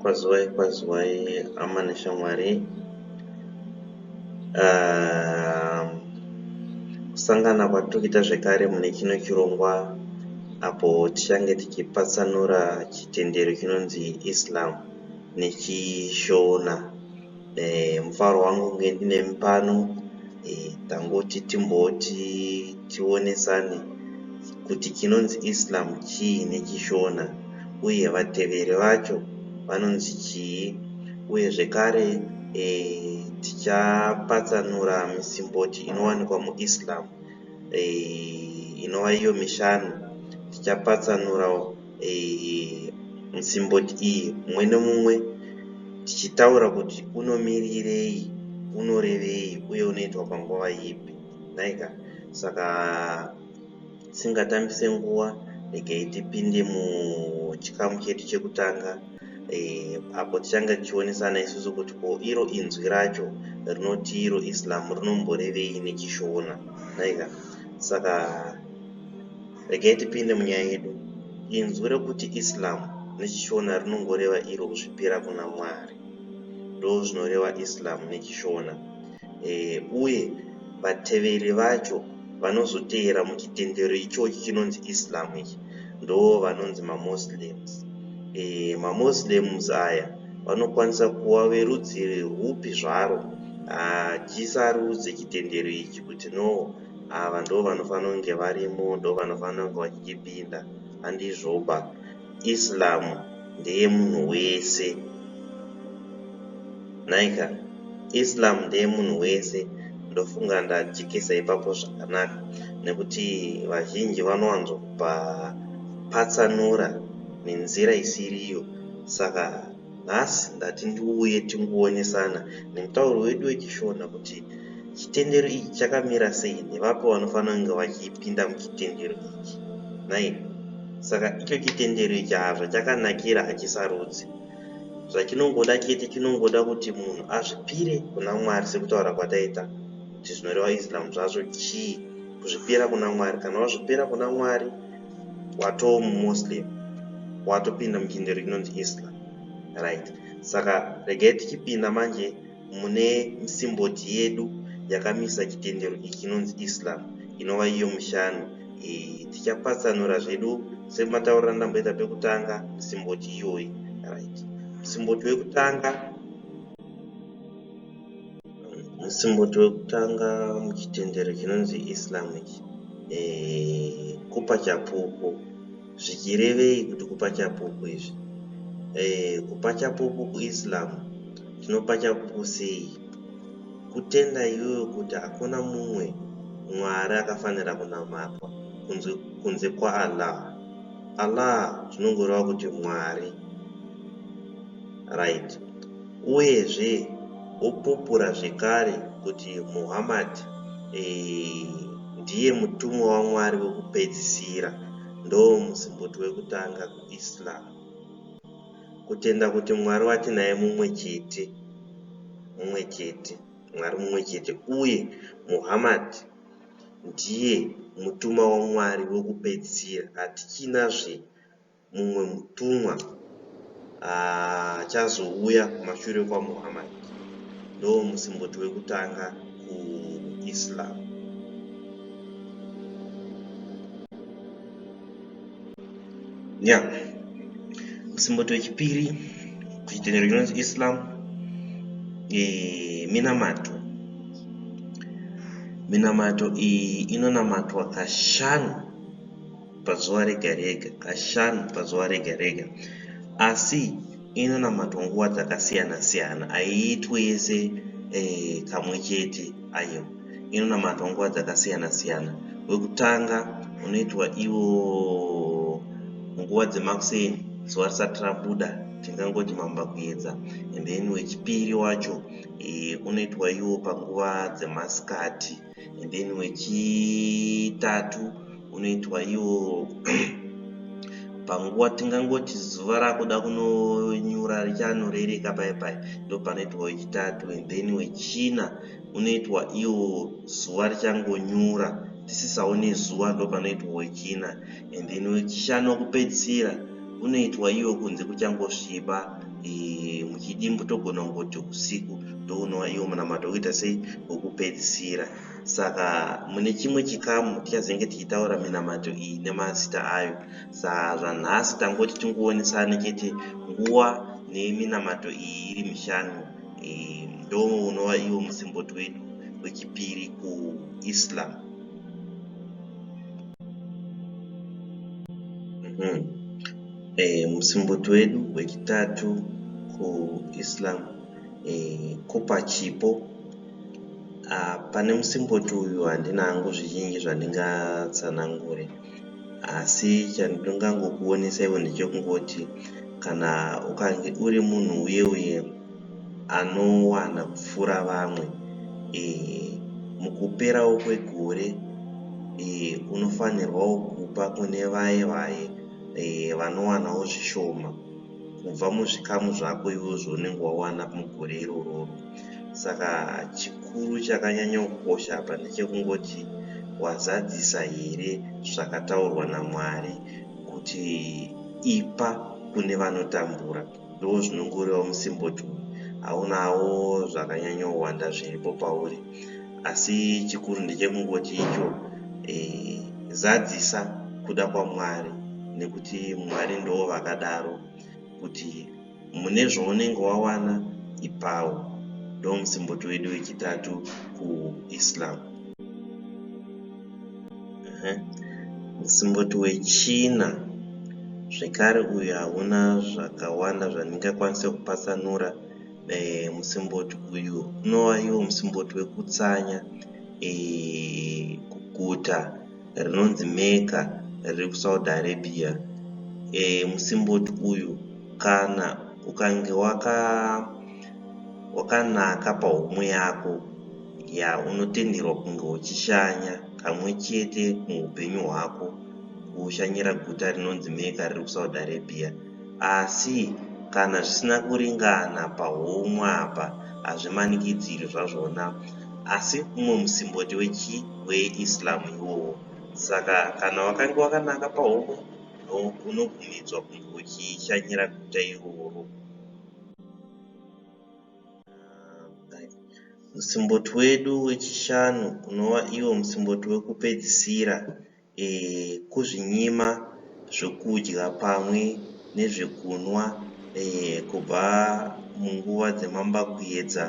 Kwazivai kwazivai hama neshamwari uh, kusangana kwatikuita zvekare mune chino chirongwa apo tichange tichipatsanura chitendero chinonzi Islam nechishona eh, mufaro wangu kunge ndinemi pano eh, tangoti timboti tionesane kuti chinonzi islam chii nechishona uye vateveri vacho vanonzi chii uye zvekare eh, tichapatsanura misimboti inowanikwa muislam eh, inova iyo mishanu tichapatsanurawo simboti iyi mumwe nemumwe tichitaura kuti unomirirei, unorevei uye unoitwa panguva ipi. Nhaika saka tisingatambise nguva, regai tipinde muchikamu chedu chekutanga eh, apo tichanga tichionesana isusu kuti ko iro inzwi racho rinoti iro Islam rinomborevei neChishona. Nhaika saka Regai tipinde munyaya yedu. Inzwi rokuti Islam nechiShona rinongoreva iro kuzvipira kuna Mwari. Ndozvinoreva Islam nechiShona. E, uye vateveri vacho vanozoteera muchitendero ichochi chinonzi Islam ichi ndoo vanonzi maMoslems. E, maMoslems aya vanokwanisa kuva verudzi rwupi zvaro. Hatisarudze chitendero ichi kuti no ava ndovanofanira kunge varimo ndovanofanira kunge vachichipinda handizvoba islam ndeyemunhu wese nhaika islam ndeyemunhu wese ndofunga ndajekesa ipapo zvakanaka nekuti vazhinji vanowanzopa patsanura nenzira isiriyo saka Nhasi ndati ndiuye tingowonesana nemutauro wedu weChiShona kuti chitendero ichi chakamira sei nevapi vanofanira kunge vachipinda muchitendero ichi nhai. Saka icho chitendero ichi haa zvachakanakira hachisarudzi. Zvachinongoda chete chinongoda kuti munhu azvipire kuna Mwari sekutaura kwataita kuti zvinoreva Islam zvacho chii kuzvipira kuna Mwari. Kana wazvipira kuna Mwari. watoo mumuslim watopinda muchinde rinonzi islam right saka regai tichipinda manje mune simboti yedu yakamisa chitendero ichi chinonzi islam inova iyo mushanu e, tichapatsanura zvedu semataurira ndamboita pekutanga simboti iyoyi right simboti wekutanga Musimboti wekutanga muchitendero chinonzi Islam ichi eh, kupa chapupu. Zvichirevei kuti kupa chapupu izvi? Eh, kupa chapupu kuIslam tinopa chapupu sei? Kutenda iwewe kuti hakuna mumwe Mwari akafanira kunamatwa kunze, kunze kwaAllah. Allah zvinongoreva kuti Mwari. Right. Uyezve wopupura zvekare kuti Muhammad ndiye mutumwa waMwari wekupedzisira, ndoomusimboti wekutanga kuIslam. Kutenda kuti Mwari watinaye mumwe chete, mumwe chete, Mwari mumwe chete, uye Muhammad ndiye mutuma waMwari wekupedzisira, hatichina zve mumwe mutumwa achazouya kumashure kwaMuhammad ndoo musimboti wekutanga kuIslam. Nya musimboti wechipiri kuchitendero chinonzi Islam e, minamato minamato iyi inonamatwa kashanu pazuva rega rega, kashanu pazuva rega rega. Asi inonamatwa nguva dzakasiyana siyana, haiitwe yese eh, kamwe chete. Ayo inonamatwa nguva dzakasiyana siyana. Wekutanga unoitwa iwo nguva dzemakuseni, zuva risati rabuda, tingangoti mamba kuedza. And then wechipiri wacho eh, unoitwa iwo panguva dzemasikati. and then wechitatu unoitwa iwo panguva tingangoti zuva rakuda kunonyura richanorereka paye paye ndopanoitwa wechitatu and then wechina unoitwa iwo zuva richangonyura tisisawo nezuva ndopanoitwa wechina and then wechishanu wekupedzisira unoitwa iwo kunze kuchangosviba e, muchidimbu togona kungoti usiku ndounova iwo munamato wokuita sei wokupedzisira saka mune chimwe chikamu tichazenge tichitaura minamato iyi nemazita ayo saa zvanhasi tangoti tingoonesane chete nguva neminamato iyi iri mishanu e, ndo unova iwo musimboti wedu wechipiri kuislam mm -hmm. E, musimboti wedu wechitatu kuIslam e, kupa chipo a, pane musimboti uyu handina hangu zvizhinji zvandingatsanangure asi chandingangokuonesa ivo ndechekungoti kana ukange uri munhu uye uye anowana kupfuura vamwe e, mukuperawo kwegore e, unofanirwawo kupa kune vaye vaye eh, vanowanawo zvishoma kubva muzvikamu zvako ivo zvaunenge wawana mugore irororo saka chikuru chakanyanya kukosha apa ndechekungoti wazadzisa here zvakataurwa namwari kuti ipa kune vanotambura Ndoo zvinongorewa musimboti uyu. Haunawo zvakanyanyowanda zviripo pauri asi chikuru ndechekungoti icho eh, zadzisa kuda kwaMwari nekuti Mwari ndoo vakadaro kuti mune zvaunenge wawana ipawo. Ndoo musimboti wedu wechitatu kuIslam. Musimboti wechina zvekare uyu hauna zvakawanda zvandingakwanise kupatsanura. Eh, musimboti uyu unova iwo musimboti wekutsanya eh, kuguta rinonzi Mecca riri kuSaudi Arabia. Eh, musimboti uyu kana ukange waka wakanaka pahomwe yako Yaa unotenderwa kunge uchishanya kamwe chete muupenyu hwako kushanyira guta rinonzi Mecca riri kuSaudi Arabia asi kana zvisina kuringana pahomwe apa hazvimanikidzirwi zvazvona asi umwe musimboti wechii weIslam iwowo saka kana wakange wakanaka pahomwe unobvumidzwa kunge uchishanyira guta iroro. Musimboti wedu wechishanu unova iwo musimboti wekupedzisira kuzvinyima zvokudya pamwe nezvekunwa kubva munguva dzemambakwedza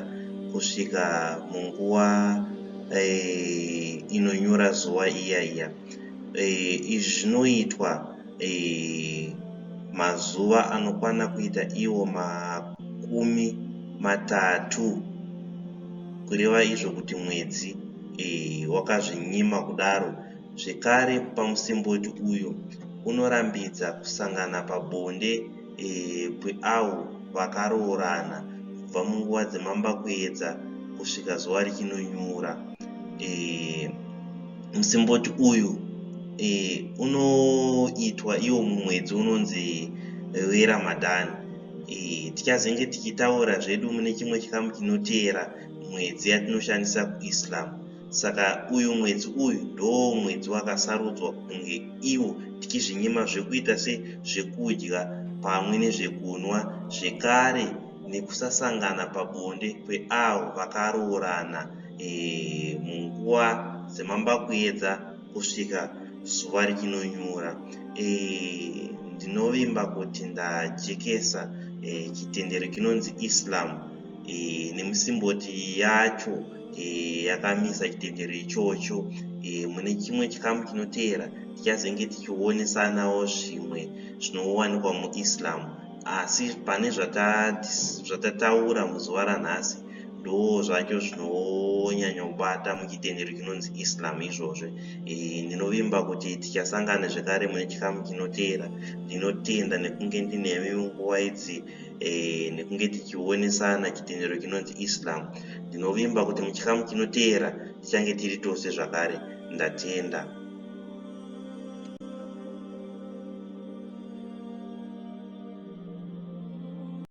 kusvika munguva inonyura zuva iya iya. Izvi zvinoitwa. eh, mazuva anokwana kuita iwo makumi matatu kureva izvo kuti mwedzi eh, wakazvinyima kudaro zvekare kupa musimboti uyo unorambidza kusangana pabonde e, kweavo vakaroorana kubva munguva dzemambakuedza kusvika zuva richinonyura. E, musimboti uyu e, unoitwa iwo mumwedzi unonzi weramadhani. E, tichazenge tichitaura zvedu mune chimwe chikamu chinoteera mwedzi yatinoshandisa kuIslam. Saka uyu mwedzi uyu ndoo mwedzi wakasarudzwa kunge iwo tichizvinyima zvekuita se zvekudya pamwe nezvekunwa zvekare nekusasangana pabonde kweavo vakaroorana eeh munguva dzemambakuedza kusvika zuva richinonyura eeh ndinovimba kuti ndajekesa eeh chitendero chinonzi Islam eeh nemusimboti yacho e, yakamisa chitendero ichocho e, mune chimwe chikamu chinoteera tichazenge tichionesanawo zvimwe zvinowanikwa muislam asi pane zvatataura muzuva ranhasi ndo zvacho zvinonyanyobata muchitendero chinonzi islam izvozvo e, ndinovimba kuti tichasangana zvekare mune chikamu chinoteera ndinotenda nekunge ndinemi munguva idzi e, nekunge tichionesana chitendero chinonzi islam ndinovimba kuti muchikamu chinoteera tichange tiri tose zvakare ndatenda